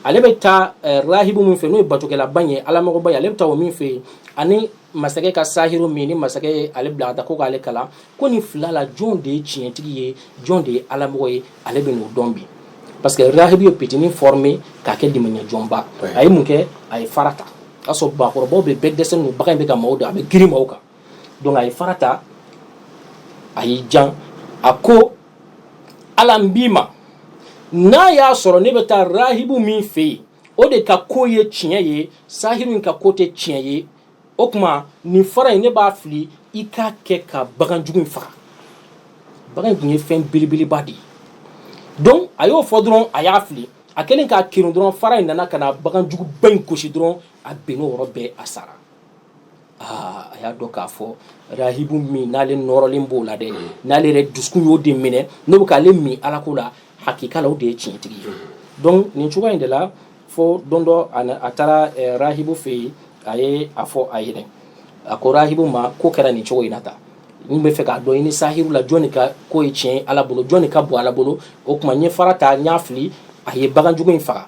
ale bɛ taa eh, rahibu min fɛ n'o ye batokɛlaba ye alamɔgɔba ye ale bɛ taa o min fɛ yen ani masakɛ ka sahiru min ni masakɛ ye ale bila ka taa ko k'ale kalan ko nin fila la jɔn de ye tiɲɛtigi ye jɔn de ye alamɔgɔ ye ale bɛ n'o dɔn bi parce que rahibu ye pitini formé k'a kɛ dimɛɲɛjɔnba a ye mun kɛ a ye fara ta o y'a sɔrɔ bakɔrɔbaw bɛ bɛɛ dɛsɛlen don bagan in bɛ ka maaw dun a bɛ girin maaw kan donc a ye fara ta a y'i jan a ko Ala n b'i ma n'a y'a sɔrɔ ne bɛ taa rahibu min fɛ yen o de ka ko ye tiɲɛ ye sahiru in ka ko tɛ tiɲɛ ye o tuma nin fara in ne b'a fili i k'a kɛ ka baganjugu in faga bagan in tun ye fɛn belebeleba de ye donc a y'o fɔ dɔrɔn a y'a fili a kɛlen k'a kerun dɔrɔn fara in nana ka na baganjuguba in gosi dɔrɔn a binn'o yɔrɔ bɛɛ a sara a y'a dɔn k'a fɔ rahibu min n'ale nɔrɔlen b'o la dɛ n'ale yɛrɛ dusukun y'o de minɛ n'o bɛ k'ale min alako la hakika la o de ye tiɲɛtigi ye donc nin cogoya in de la fo don dɔ a taara rahibu fɛ yen a ye a fɔ a yɛrɛ a ko rahibu ma ko kɛra nin cogo in na tan n b'a fɛ k'a dɔn i ni sahiru la jɔnni ka ko ye tiɲɛ ye ala bolo jɔnni ka bon ala bolo o tuma n ye fara ta n y'a fili a ye baganjugu in faga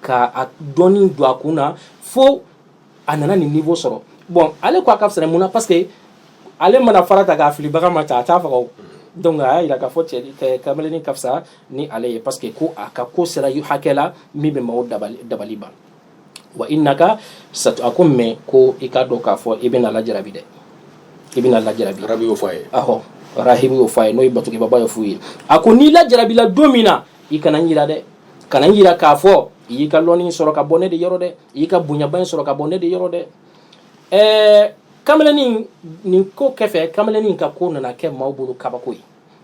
ka a dɔnni don a kun na fo a nana nin niveau sɔrɔ bon ale ko a ka fisa mun na parce que ale mana fara ta k'a fili bagan ma ta a t'a faga o donc a y'a jira k'a fɔ cɛ kamalennin ka fisa ni ale ye parce que ko a ka ko sera hakɛ la min bɛ maaw dabali dabali ban wa innaka satu a ko mais ko i k'a dɔn k'a fɔ i bɛna lajarabi dɛ i bɛna lajarabi rabi y'o fɔ a ye ahɔ rahibu y'o fɔ a ye n'o ye batokɛbaaba ye f'u ye a ko n'i lajarabila don min na i kana n jira dɛ kana n jira k'a fɔ i y'i ka lɔnni sɔrɔ ka bɔ ne de yɔrɔ dɛ i y'i ka bonyaba in sɔrɔ ka bɔ ne de yɔrɔ dɛ ɛɛ kamalennin nin ko kɛfɛ kamalennin ka ko nana kɛ maaw bolo kabako ye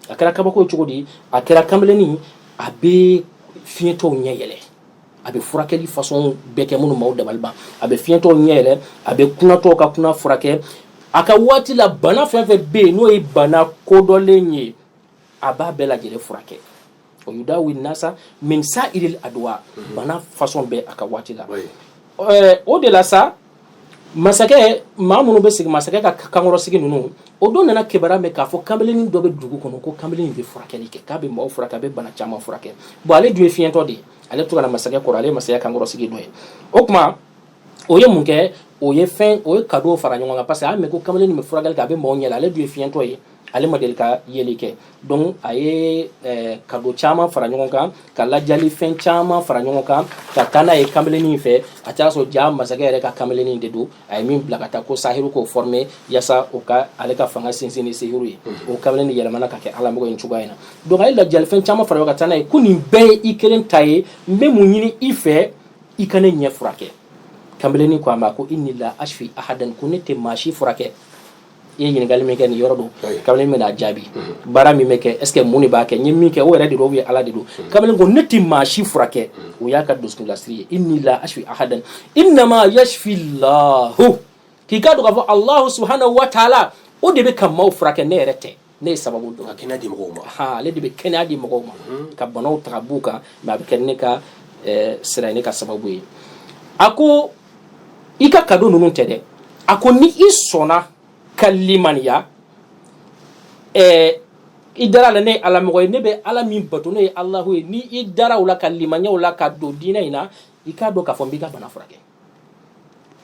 a kɛra kabako ye cogo di a kɛra kamalennin a bɛ fiɲɛtɔw ɲɛ yɛlɛ a bɛ furakɛli fasɔn bɛɛ kɛ minnu maaw dabali ban a bɛ fiɲɛtɔw ɲɛ yɛlɛ a bɛ kunatɔw ka kuna furakɛ a ka waati la bana fɛn fɛn bɛ yen n'o ye bana kodɔnlen ye a b'a bɛɛ lajɛlen furakɛ o yudawi nasa min sa'iril adwa mhm. bana fasɔn bɛɛ a ka waati la o de la sa masakɛ maa minnu bɛ sigi masakɛ ka kankɔrɔsigi ninnu o dɔ nana kibaruya mɛn k'a fɔ kamalenin dɔ bɛ dugu kɔnɔ ko kamalenin bɛ furakɛli kɛ k'a bɛ maaw furakɛ a bɛ bana caman furakɛ bon ale dun ye fiɲɛtɔ de ye ale to ka na masakɛ kɔrɔ ale ye masakɛ kankɔrɔsigi dɔ ye o tuma o ye mun kɛ o ye fɛn o ye kado fara ɲɔgɔn kan parce que a y'a mɛn ko kamalennin bɛ furakɛli kɛ a bɛ mɔgɔ ɲɛ ale dun ye fiɲɛtɔ ye ale ma deli ka yeli kɛ donc a ye eh, kado caman fara ɲɔgɔn kan ka lajali fɛn caman fara ɲɔgɔn kan ka taa n'a ye kamalennin fɛ a taar'a sɔrɔ jaa masakɛ yɛrɛ ka kamalennin de don a ye min bila ka taa ko sahiru k'o former yaasa o ka ale ka fanga sinsin ni sihiru ye mhm. o kamalen de yɛlɛmana ka kɛ alamɔgɔ in cogoya in na donc a ye lajali fɛn caman fara ɲɔgɔn kan ka taa n'a ye ko nin bɛɛ ye i kelen ta ye n bɛ mun ɲini i fɛ i ka ne ɲɛ furakɛ kamalennin ko a ma ko inni la ashfi ahadan ko ne tɛ maa si furakɛ i ye ɲininkali min kɛ nin yɔrɔ don kamalennin bɛn'a jaabi mhm. baara min bɛ kɛ est ce que mun de b'a kɛ n ye min kɛ o yɛrɛ de don ou bien ala de don mhm. kamalen ko ne tɛ maa si furakɛ mhm. o y'a ka dusukunlasiri ye inni la ashfi ahadan innama yashfi llahu k'i k'a dɔn k'a fɔ alahu subhanahu wa taala o de bɛ ka maaw furakɛ ne yɛrɛ tɛ ne ye sababu dɔn ka kɛnɛya di mɔgɔw ma ha ale de bɛ kɛnɛya di mɔgɔw ma ka banaw ta ka b'u kan mais a bɛ kɛ ne ka eh, sira ye ne ka sababu ye a ko i ka kado ninnu tɛ dɛ a ko ni i sɔnna ka limaniya eh, i dar'a la ne ye ala mɔgɔ ye ne bɛ ala min bato n'o ye alahu ye ni i dara o la ka limaniya o la ka don diinɛ in na i k'a dɔn k'a fɔ n b'i ka bana furakɛ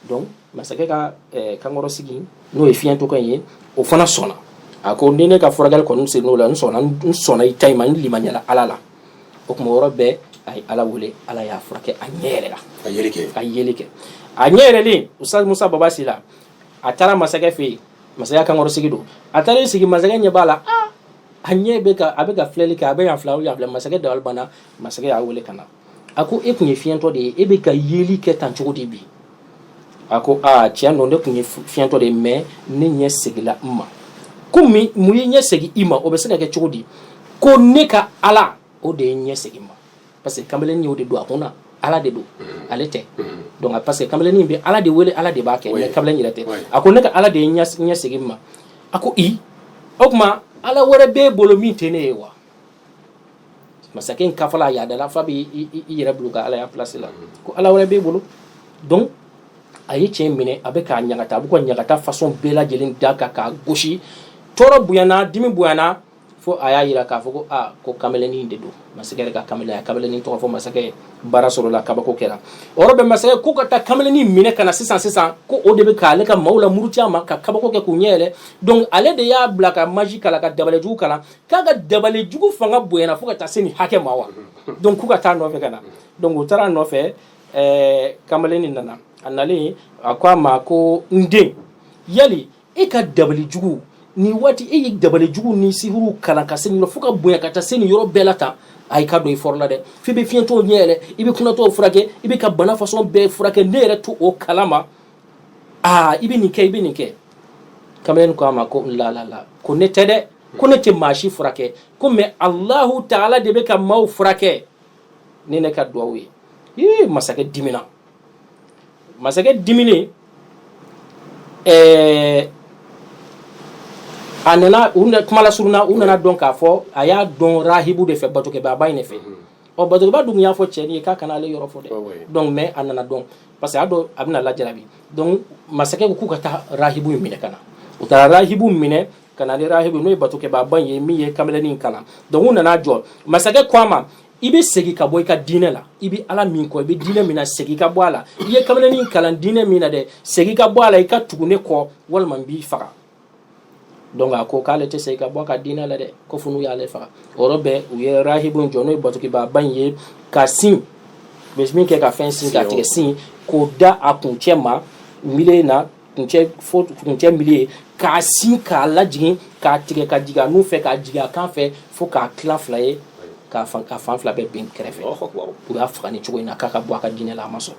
donc masakɛ ka eh, kankɔrɔsigi n'o ye fiɲɛtɔkɛ ye o fana sɔnna a ko ni ne ka furakɛli kɔni sen n'o la n sɔnna n sɔnna i ta in ma n limaniyala ala la o tuma yɔrɔ bɛɛ a ye ala wele ala y'a furakɛ a ɲɛ yɛlɛla a yeli kɛ a yeli kɛ a ɲɛ yɛlɛlen ustaz musa baba si la a taara masakɛ fɛ yen masakɛ kankɔrɔsigi don a taara sigi masakɛ ɲɛ b'a la a ɲɛ bɛ ka a bɛ ka filɛli kɛ a bɛ yan filɛ yan filɛ masakɛ dabali banna masakɛ y'a wele ka na a ko e tun ye fiɲɛtɔ de ye e bɛ ka yeli kɛ tan cogo di bi a ko aa tiɲɛ don ne tun ye fiɲɛtɔ de ye mais ne ɲɛ seginla n ma ko mun ye ɲɛ segin i ma o bɛ se ka kɛ cogo di ko ne ka ala o de ye ɲɛ segin ma parce que kamalen y'o de don a kun na ala de don ale tɛ donc parce que kamalen bɛ ala de wele ala de b'a kɛ mais kamalen yɛrɛ tɛ a ko ne ka ala de ye ɲɛ segin ma a ko o tuma ala wɛrɛ b'e bolo min tɛ ne ye wa masakɛ in kafa a yadala fa bɛ i yɛrɛ bila ka alaya plasi la ko ala wɛrɛ b'e bolo donc a ye cɛ minɛ a bɛ k'a ɲagata a bɛ k'a ɲagata façon bɛɛ lajɛlen da kan k'a gosi tɔɔrɔ bonyana dimi bonyana fo a y'a jira k'a fɔ ko aa ko kamalennin de don masakɛ yɛrɛ ka kamalen a kamalennin tɔgɔ fɔ masakɛ ye baara sɔrɔla kabako kɛra o yɔrɔ bɛɛ masakɛ ko ka taa kamalennin minɛ ka na sisan sisan ko o de bɛ k'ale ka maaw lamuruti a ma ka kabako kɛ k'u ɲɛ yɛlɛ donc ale de y'a bila ka magie kalan ka dabalijugu kalan k'a ka dabali jugu fanga bonyana fo ka taa se nin hakɛ ma wa donc k'u ka taa a nɔfɛ ka na donc u taara a nɔfɛ ɛɛ kamalen nin nana a nalen a ko a ma ko n den yali e ka dabali jugu nin waati e ye dabali jugu ni sihiriw kalan ka se nin fo ka bonya ka taa se nin yɔrɔ bɛɛ la tan ayi ka don i fɔrɔ la dɛ f'i bɛ fiɲɛtɔw ɲɛ yɛlɛ i bɛ kunatɔw furakɛ i bɛ ka bana façon bɛɛ furakɛ ne yɛrɛ t'o kalama aa i bɛ nin kɛ i bɛ nin kɛ kamalen ko a ma ko la la la ko ne tɛ dɛ ko ne tɛ maa si furakɛ ko mais alahu taala de bɛ ka maaw furakɛ ni ne ka dugawu ye ee masakɛ dimina masakɛ diminen ɛɛ an na kuma lasurunya u nana a dɔn k'a fɔ a y'a dɔn rahibu de fɛ batokɛbaaba in de fɛ ɔ batokɛbaa dun y'a fɔ cɛ ye k'a kana ale yɔrɔ fɔ dɛ donc mais a nana a dɔn parce que a dɔn a bɛna lajarabi donc masakɛ ko k'u ka taa rahibu in minɛ ka na u taara rahibu minɛ ka na ni rahibu n'o ye batokɛbaaba ye min ye kamalennin kalan donc u nana a jɔ masakɛ ko a ma i bɛ segin ka bɔ i ka diinɛ la i bɛ ala min kɔ i bɛ diinɛ min na segin ka bɔ a la i ye kamalennin kalan diinɛ min na dɛ segin ka bɔ a la i ka tugu ne kɔ walima n b'i faga donc a ko k'ale tɛ segin ka bɔ a ka diinɛ la dɛ ko fo n'u y'ale faga o yɔrɔ bɛɛ u ye rahibu jɔ n'o ye batokɛbaaba in ye ka si bɛ min kɛ ka fɛn si k'a tigɛ si k'o da a kuncɛ ma milieu na kuncɛ fo kuncɛ milieu k'a si k'a lajigin k'a tigɛ ka jigin a nun fɛ k'a jigin a kan fɛ fo k'a tila fila ye k'a fan fila bɛɛ bin kɛrɛfɛ u y'a faga nin cogo in na k'a ka bɔ a ka diinɛ la a ma sɔn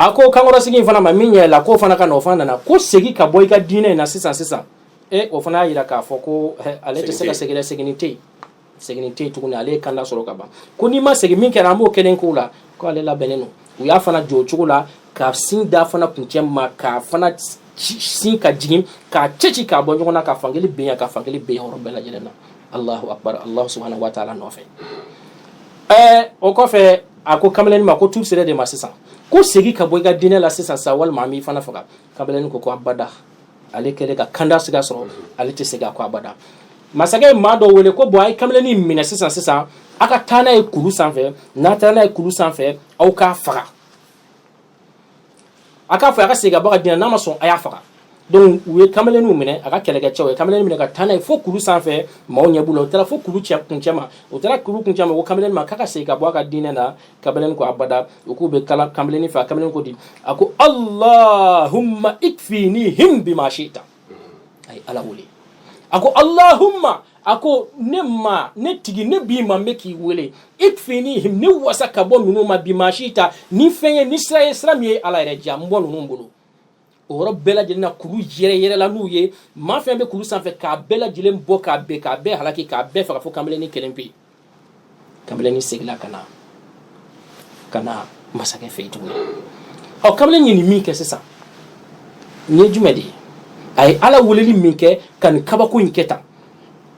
a ko kankɔrɔsigi in fana ma min ɲɛ la k'o fana ka na o fana nana ko segin ka bɔ i ka diinɛ in na sisan sisan e o fana y'a jira k'a fɔ ko ale tɛ se ka segin dɛ seginni tɛ yen seginni tɛ yen tuguni ale ye kanda sɔrɔ ka ban ko n'i ma segin min kɛra an b'o kelen k'o la ko ale labɛnnen don u y'a fana jɔ o cogo la ka sin d'a fana kuncɛ ma k'a fana sin ka jigin k'a cɛci k'a bɔ ɲɔgɔn na ka fankelen ben yan ka fankelen ben yɔrɔ bɛɛ lajɛlen na alahu akbar alahu subahana wa taala nɔfɛ ɛɛ o kɔfɛ a ko kamalennin ma ko tour sera e de ma sisan ko segin ka bɔ i ka diinɛ la sisan sa walima an b'i fana faga kamalennin ko ko abada ale kɛlen ka kanda sira sɔrɔ ale tɛ segin a ko abada masakɛ ye maa dɔ wele ko bon a ye kamalennin minɛ sisan sisan aw ka taa n'a ye kulu sanfɛ n'a taara n'a ye kulu sanfɛ aw k'a faga a k'a fɔ a ka segin ka bɔ a ka diinɛ n'a ma sɔn a y'a faga donc u ye kamalenninw minɛ a ka kɛlɛkɛcɛw ye kamalennin minɛ ka taa n'a ye fo kulu sanfɛ maaw ɲɛ b'u la u taara fo kulu cɛ kuncɛ ma u taara kulu kuncɛ ma ko kamalennin ma k'a ka segin ka bɔ a ka diinɛ na kamalennin ko abada u k'u bɛ kala kamalennin faga kamalennin ko di a ko allahumma ikfinihim bima shita a ye ala wele a ko allahumma a ko ne ma ne tigi ne b'i ma n bɛ k'i wele ikfinihim ne wasa ka bɔ ninnu ma bima shita ni fɛn ye ni sira ye sira min ye ala yɛrɛ diya n bɔ ninnu bolo o yɔrɔ bɛɛ lajɛlen na kulu yɛrɛyɛrɛla n'u ye maa fɛn bɛ kulu sanfɛ k'a bɛɛ lajɛlen bɔ k'a bɛɛ k'a bɛɛ halaki k'a bɛɛ faga fo kamalennin kelen pe kamalennin seginna ka na ka na masakɛ fɛ yen tuguni ɔ kamalennin ye nin min kɛ sisan nin ye jumɛn de ye a ye ala weleli min kɛ ka nin kabako in kɛ tan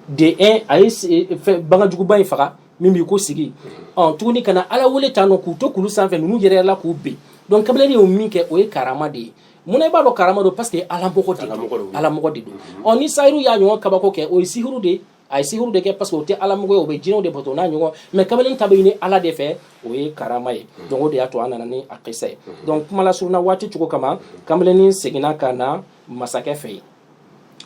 de un a ye e, e, bagan juguba in faga min b'i ko sigi ɔ tuguni ka na ala wele tan nɔ k'u to kulu sanfɛ ninnu yɛrɛ la k'u ben donc kamalennin ye min kɛ o ye karama de ye munna i b'a dɔn karama don parce que ala mɔgɔ de don ala mɔgɔ de don ɔ ni sahiru y'a ɲɔgɔn kabako kɛ o ye sihiru de ye a ye sihiru de kɛ parce que o tɛ ala mɔgɔ ye o bɛ jinɛw de bato n'a ɲɔgɔn mais kamalennin ta bɛ ɲini ala de fɛ o ye karama ye mm. donc o de y'a to an nana ni a kisa ye mm. donc kuma lasurunna waati cogo kama kamalennin seginna ka na masakɛ fɛ yen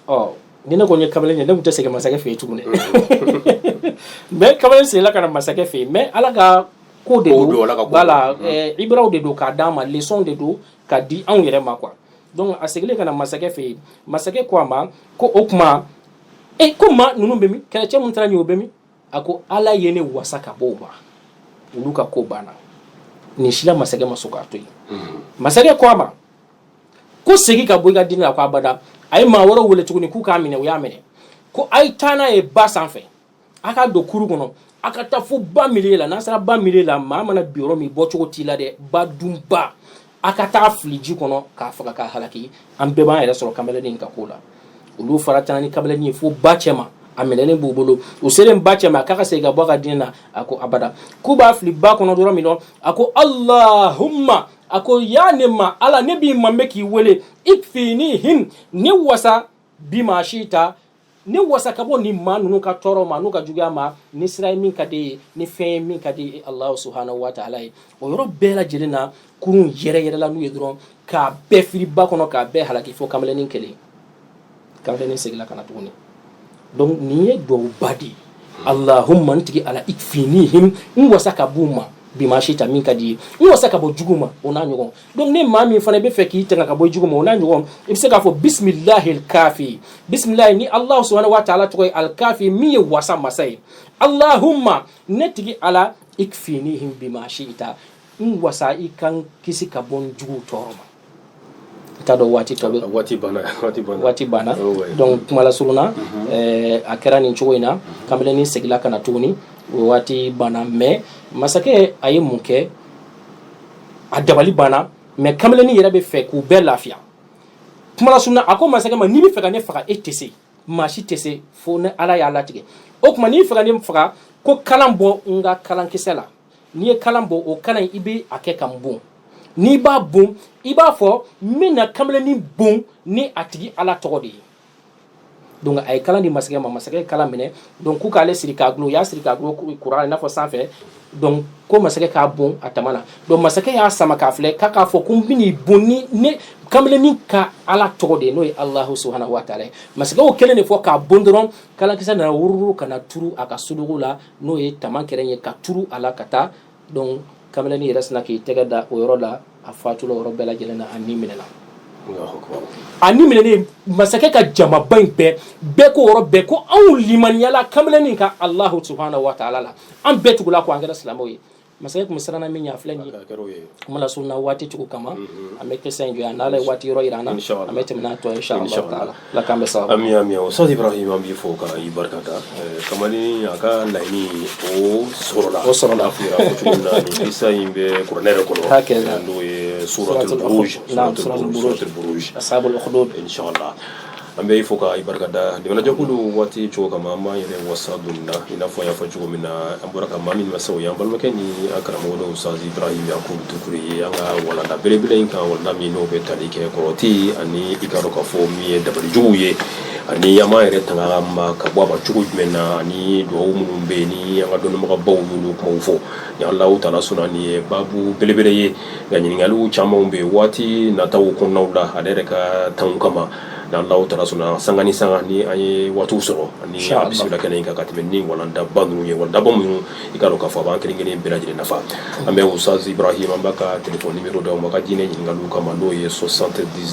ɔ ni ne tun ye kamalennin ye ne tun tɛ segin masakɛ fɛ yen tuguni mm. mais kamalennin seginna ka na masakɛ fɛ yen mais ala ka ko de don voilà eh, ibaraw de don k'a d'a ma leçon de don ka di anw yɛrɛ ma quoi donc a seginnen ka na masakɛ fɛ yen masakɛ ko a ma ko o tuma e ko maa ninnu bɛ min kɛlɛcɛ minnu taara n'i ye o bɛ min a ko ala ye ne wasa ka bɔ o ma olu ka ko banna nin si la masakɛ ma sɔn k'a to yen masakɛ ko a ma ko segin ka bɔ i ka diinɛ la a ko abada a ye maa wɛrɛw wele tuguni k'u k'a minɛ u y'a minɛ ko a ye taa n'a ye ba sanfɛ a ka don kuru kɔnɔ a ka taa fo ba milieu la n'a sera ba milieu la maa mana bi yɔrɔ min bɔ cogo t'i la dɛ ba dunba a ka taa fili ji kɔnɔ k'a faga k'a halaki an bɛɛ b'an yɛrɛ sɔrɔ kamalennin ka ko la olu fana taara ni kamalennin ye fo ba cɛma a minɛlen b'u bolo u selen ba cɛma a k'a ka segin ka bɔ a ka diinɛ na a ko abada k'u b'a fili ba kɔnɔ dɔrɔn min na a ko alahuma a ko yaa ne ma ala ne b'i ma bɛ k'i wele ikfinihim ne wasa bima shi'ita ne wasa ka bɔ ni maa ninnu ka tɔɔrɔ ma n'u ka juguya ma ni sira ye min ka di ye ni fɛn ye min ka di ye alahu subahana wa taala ye o yɔrɔ bɛɛ lajɛlen na kurun yɛrɛyɛrɛla n'u ye dɔrɔn k'a bɛɛ firi ba kɔnɔ k'a bɛɛ halaki fo kamalennin kelen kamalennin seginna ka na tuguni donc nin ye duwawuba de ye alahuma n tigi ala ikfinihim n wasa ka b'u ma bima shi'ita min ka di ye n wasa ka bɔ jugu ma o n'a ɲɔgɔn donc ni maa min fana bɛ fɛ k'i tanga ka bɔ jugu ma o n'a ɲɔgɔn i bɛ se k'a fɔ bisimilahi alikafi bisimilahi ni alahu subahana wa taala tɔgɔ ye alikafi min ye wasa masa ye alahuma ne tigi ala ikfinihim bima shi'ita n wasa i ka n kisi ka bɔ n juguw tɔɔrɔ ma i t'a dɔn waati tɔ bɛ waati banna waati banna waati banna oh, donc kuma lasurunna mhm. eh, a kɛra nin cogo in na kamalennin segila ka na tuguni o waati banna mais masakɛ a ye mun kɛ a dabali banna mais kamalennin yɛrɛ bɛ fɛ k'u bɛɛ lafiya kuma lasurunna a ko masakɛ ma n'i bɛ fɛ ka ne faga e tɛ se maa si tɛ se fo ni ala y'a latigɛ o tuma n'i fɛ ka ne faga ko kalan bɔ n ka kalankisɛ la n'i ye kalan bɔ o kalan i bɛ a kɛ ka n bon n'i b'a bon i b'a fɔ n bɛna kamalennin bon ni a tigi ala tɔgɔ de ye donc a ye kalan di masakɛ ma masakɛ ye kalan minɛ donc k'u k'ale siri k'a gulon u y'a siri k'a gulon kuran i n'a fɔ sanfɛ donc ko masakɛ k'a bon a tama na donc masakɛ y'a sama k'a filɛ k'a k'a fɔ ko n bɛn'i bon ni nin kamalennin ka ala tɔgɔ de ye n'o ye alahu subahanahu wa taala ye masakɛ y'o kelen de fɔ k'a bon dɔrɔn kalankisɛ nana wururu ka na turu a ka sudugu la n'o ye tama kɛrɛ ye ka turu a la ka taa donc kamalennin yɛrɛ sina k'i tɛgɛ da o yɔrɔ la a fatula o yɔrɔ bɛɛ lajɛlen na a ni minɛna a ni minɛnen masakɛ ka jamaba in bɛɛ bɛɛ ko yɔrɔ bɛɛ ko anw limaniyala kamalenin ka alahu subahana wa taala la an bɛɛ tugula a kɔ an kɛra silamɛw ye masakɛ tun bɛ siranna min ɲɛ a filɛ nin ye kuma lasurunna waati cogo kama an bɛ kisa in jɔ yan n'ala ye waati yɔrɔ yira an na an bɛ tɛmɛ n'a tɔ ye insha Allah taala la k'an bɛ sababu ami ami Ustaz Ibrahim an b'i fo ka i barikada eh, kamalen a ka laɲini o sɔrɔla o sɔrɔla fɔ cogo min na nin kisa in bɛ kuranɛ yɛrɛ kɔnɔ n'o ye suratul buruj suratul buruj ashabul ukhdud inshallah an bɛ i fo ka i barikada jamanajɛkulu waati cogo kama an b'an yɛrɛ wasa don nin na i n'a fɔ an y'a fɔ cogo min na bɔra ka maa min masɔrɔ o y'an balimakɛ ni an karamɔgɔ dɔ ustaz ibrahim yakubu dukure ye an ka walanda belebele in kan walanda min n'o bɛ tali kɛ kɔrɔti ani i k'a dɔn k'a fɔ min ye dabalijuguw ye ani an b'an yɛrɛ tanga ma ka bɔ a ma cogo jumɛn na ani dugawu minnu bɛ yen ni an ka dɔnnibagabaw y'olu kumaw fɔ ni allahu taala sɔnna nin ye baabu belebele ye nka ɲininkaliw camanw bɛ yen waati nataw kɔnɔnaw la ale yɛrɛ ka tanw kama n'an da taara sun san ni san an ye waati sɔrɔ ani bisimila kɛnɛ in kan ka tɛmɛ ni walalandaba ninnu ye walada minnu i ka ka fɔ b'an kelen kelen bɛɛ lajɛlen nafa an bɛ wsanzsibarahi an b'a ka tile ni mi da ma ka diinɛ ɲininkaka ka ma n'o ye so sante di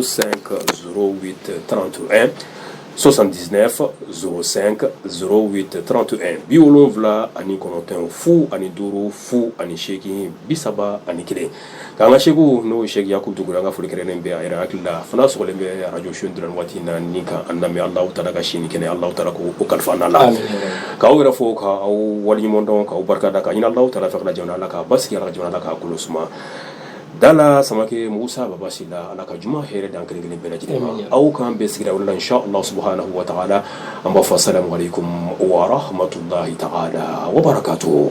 san ka tanranto sɔsan diinɛ fɔ sen ka tanranto bi wolowula ani kɔnɔntɔn fu ani duuru fu ani seeki bi saba ani kelen K'an ka sheikh n'o ye sheikh yakubu dukure an ka foli kɛrɛnnen bɛ a yɛrɛ hakili la fana sɔrɔlen bɛ arajo su dɔrɔn waati in na ni ka an lamɛn allahu taala ka si ni kɛnɛ allahu taala k'o kalifa an la k'aw yɛrɛ fo k'aw waleɲumandɔn k'aw barika da ka ɲini allahu taala ka jamana la k'a basigi ala ka jamana la k'a kolo suma dala samake musa baba sila ala ka juma hɛrɛ d'an kelen kelen bɛɛ lajɛlen ma aw k'an bɛɛ sigira la subhanahu wa taala an b'a fɔ salamu alaikum warahmatullahi taala wabarakatuh